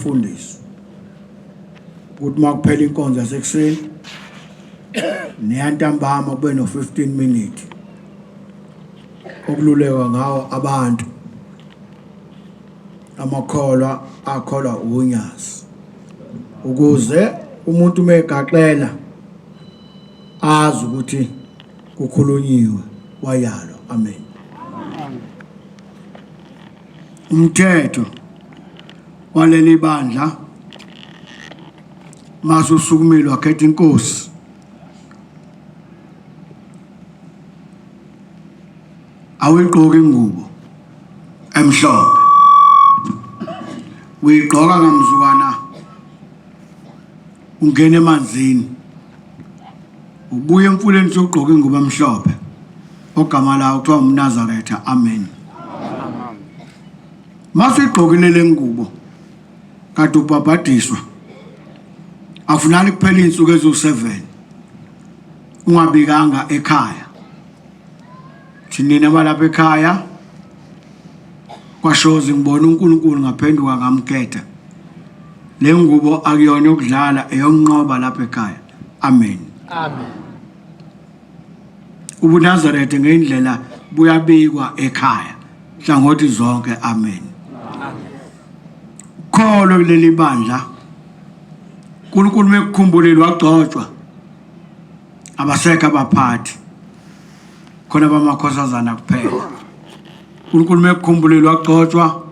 Mfundisi ukuthi uma kuphela inkonzo yasekuseni neyantambama kube no-15 minute okululekwa ngawo abantu amakholwa akholwa unyazi ukuze umuntu uma egaxela azi ukuthi kukhulunyiwe wayalwa amen umthetho waleli bandla mase usukumile wakhetha inkosi awuyigqoki ingubo emhlophe uyigqoka ngamzukwana ungena emanzini Ubuye emfuleni sogqoke ingubo emhlophe ogama lawo kuthiwa umnazaretha amen masigqokile le ngubo kade ubhabhadiswa afunani kuphela iy'nsuku eziwu-7 ungabikanga ekhaya thinina balapha ekhaya Kwashozi ngibona uNkulunkulu ngaphenduka ngamkhetha. Le ngubo akuyona yokudlala eyonqoba lapha ekhaya. Amen. Amen. UbuNazaretha ngendlela buyabikwa ekhaya hlangothi zonke. Amen. Kholo kuleli bandla. uNkulunkulu mekukhumbulile wagcotshwa. abasekho abaphathi khona bamakhosazana kuphela uNkulunkulu mekukhumbulile wagcotshwa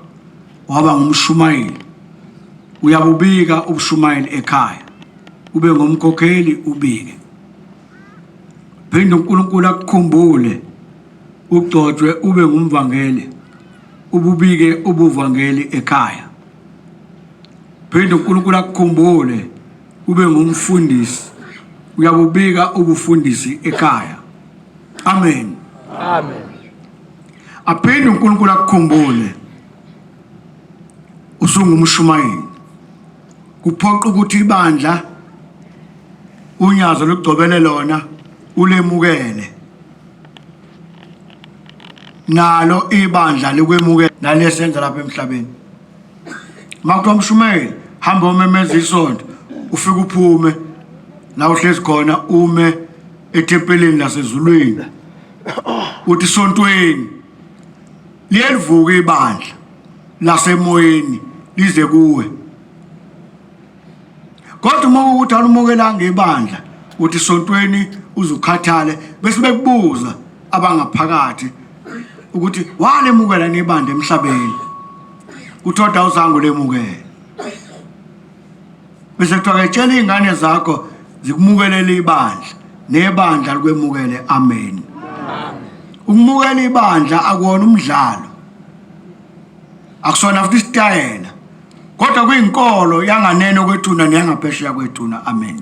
waba ngumshumayeli uyabubika ubushumayeli ekhaya ube ngumkhokheli ubike phinde uNkulunkulu akukhumbule ugcotshwe ube ngumvangeli ububike ubuvangeli ekhaya phinde uNkulunkulu akukhumbule Ube ngumfundisi uyabubika ubufundisi ekhaya. Amen. Amen. Aphinde uNkulunkulu akukhumbule. Usungumshumayeli. Kuphoqa ukuthi ibandla unyazo lugcobele lona ulemukele. Nalo ibandla likwemukela nalesenza lapha emhlabeni. Makuthiwa mshumayeli hamba omemeza isonto ufike uphume la uhlezi khona ume ethempelini lasezulwini uthi sontweni liyelivuka ibandla lasemoyeni lize kuwe kodwa uma ukuthi alumukelanga ibandla uthi sontweni uzukhathale bese bekubuza abangaphakathi ukuthi walemukela nebandla emhlabeni kuthoda uzangu lemukela bese kuthiwa ke tshela iy'ngane zakho zikumukelele ibandla nebandla likwemukele amen ukumukela ibandla akuwona umdlalo akusona futhi isitayela kodwa kuyinkolo yanganeno kwethuna neyangaphesheya kwethuna amen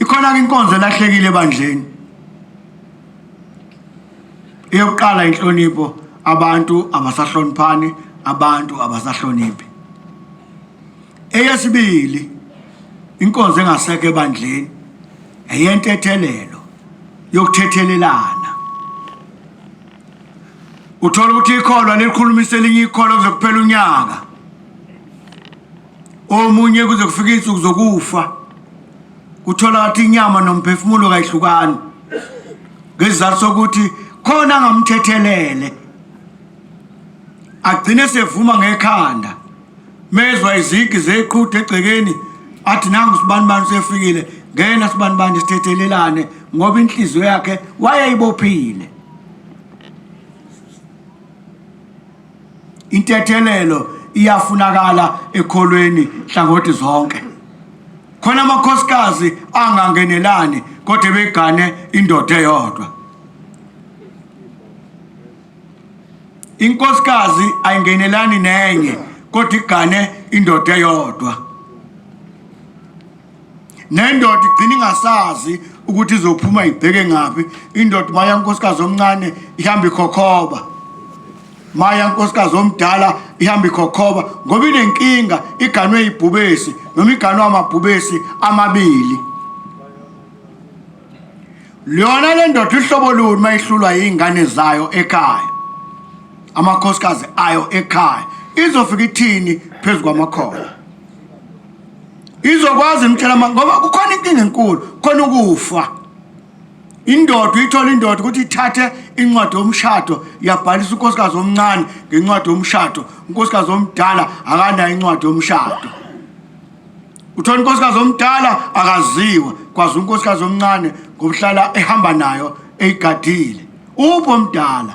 ikhona-ke inkonzo elahlekile ebandleni eyokuqala inhlonipho abantu abasahloniphani abantu abasahloniphi eyesibili inkonzo engasekho ebandleni eyentethelelo yokuthethelelana uthola ukuthi ikholwa lelikhulumisa elinye ikholwa kuze kuphela unyaka omunye kuze kufika iy'nsuku zokufa uthola kathi inyama nomphefumulo kayihlukani ngesizathu sokuthi khona angamthethelele agcine sevuma ngekhanda mezwa izigi zeqhude egcekeni athi nangu sibani bani sefikile ngena sibani bani sithethelelane ngoba inhliziyo yakhe wayeyibophile intethelelo iyafunakala ekholweni hlangothi zonke khona amakhosikazi angangenelani kodwa begane indoda eyodwa inkosikazi ayingenelani nenye kodwa igane indoda eyodwa nendoda igcina ingasazi ukuthi izophuma ibheke ngaphi indoda maya nkosikazi omncane ihamba ikhokhoba maya nkosikazi omdala ihamba ikhokhoba ngoba inenkinga iganwe ibhubesi noma iganwe amabhubesi amabili lona le ndoda ihlobo luni uma ihlulwa yiy'ngane zayo ekhaya amakhosikazi ayo ekhaya izofika ithini phezu kwamakhola izokwazi mtshela ngoba kukhona inkinga enkulu khona ukufa indoda uyithola indoda ukuthi ithathe incwadi yomshado yabhalisa unkosikazi omncane ngencwadi yomshado unkosikazi omdala akanayo incwadi yomshado uthola unkosikazi omdala akaziwa kwazi unkosikazi omncane ngokuhlala ehamba nayo eyigadile upho mdala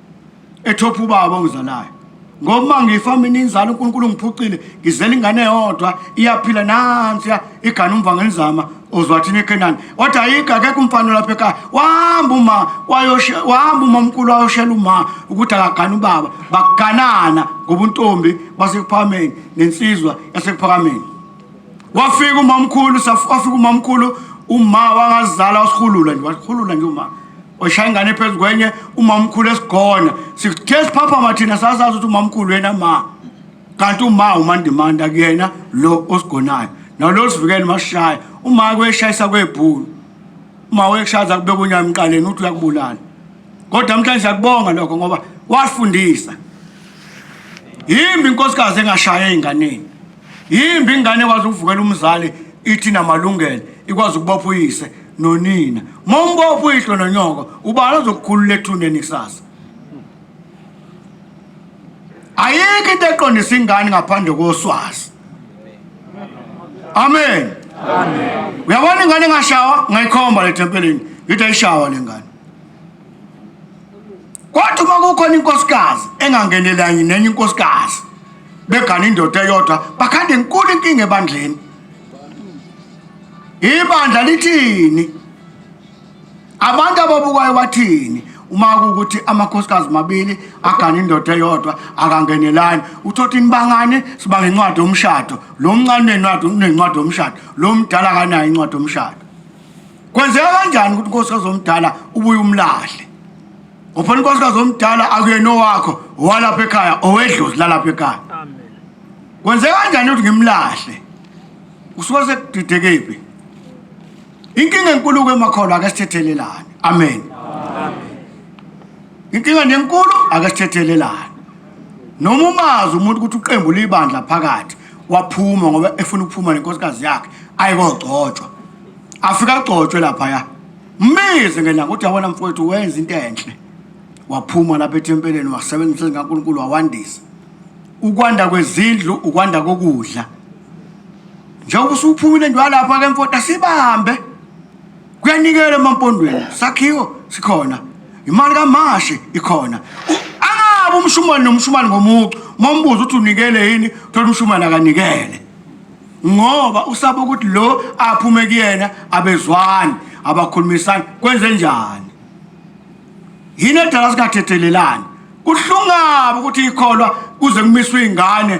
ethopha ubaba ongizalayo ngoba ngifa mina inzalo uNkulunkulu ngiphucile ngizela ingane yodwa iyaphila nansiya igana umva ngelizama uzwathini eKenani kodwa ayikho akekho umfana lapha ekhaya wahamba uma wayoshe wahamba uma omkhulu wayoshela uma ukuthi akagana ubaba baganana ngobuntombi basekuphakameni nensizwa yasekuphakameni Wafika umamkhulu wafika umamkhulu uma wangazala wasihulula nje wasihulula nje uma washaya ingane phezu kwenye umamkhulu esigona sithe siphaphama thina sasazi ukuthi umamkhulu yena ma kanti uma umandimanda kuyena lo osigonayo nalo sivikele mashaya uma kweshayisa kwebhulu uma weshaza kubeka unyama emqaleni uthi uyakubulala kodwa namhlanje siyakubonga lokho ngoba wasifundisa yimbi inkosikazi engashaya ezinganeni yimbi ingane ekwazi ukuvukela umzali ithi namalungelo ikwazi ukubopha uyise nonina uma umbopha uyihlo nonyoko ubani ozokukhulula ethuneni kusasa ayikho into eqondisa ingane ngaphandle koswazi amen uyabona ingane engashawa ngayikhomba le thempelini ngithi ayishawa le ngane Kwathi uma kukhona inkosikazi engangenelanye nenye inkosikazi begana indoda eyodwa bakhanda inkulu inkinga ebandleni. Ibandla lithini? Abantu ababukayo bathini? uma kukuthi amakhosikazi mabili agane indoda eyodwa akangenelani uthothi nibangane siba ngencwadi yomshado lo mncane nencwadi yomshado lo mdala akanayo incwadi yomshado kwenzeka kanjani ukuthi unkosikazi omdala ubuye umlahle ngoba unkosikazi omdala akuyena owakho owalapha ekhaya owedlozi lalapha ekhaya kwenzeka kanjani ukuthi ngimlahle usuke sekudidekephi inkinga enkulu-ko emakholwa ake sithethelelane amen inkinga nenkulu ake sithethelelane noma umazi umuntu ukuthi uqembu libandla phakathi waphuma ngoba efuna ukuphuma nenkosikazi yakhe ayikogcotshwa afika agcotshwe laphaya mbize ngelanga ukuthi yabona mfowethu wenza into enhle waphuma lapha ethempeleni wasebenzisa zikankulunkulu wawandisa ukwanda kwezindlu ukwanda kokudla njengoba usuphumile nje walapha ke mfowethu asibambe kuyanikela emampondweni sakhiwo sikhona imali kamashi ikhona angabe umshumane nomshumane ngomucu mombuza ukuthi unikele yini thola umshumane akanikele ngoba usaba ukuthi lo aphume kuyena abezwani abakhulumisani kwenze njani yini edala singathethelelani kuhlungabi ukuthi ikholwa kuze kumiswe ingane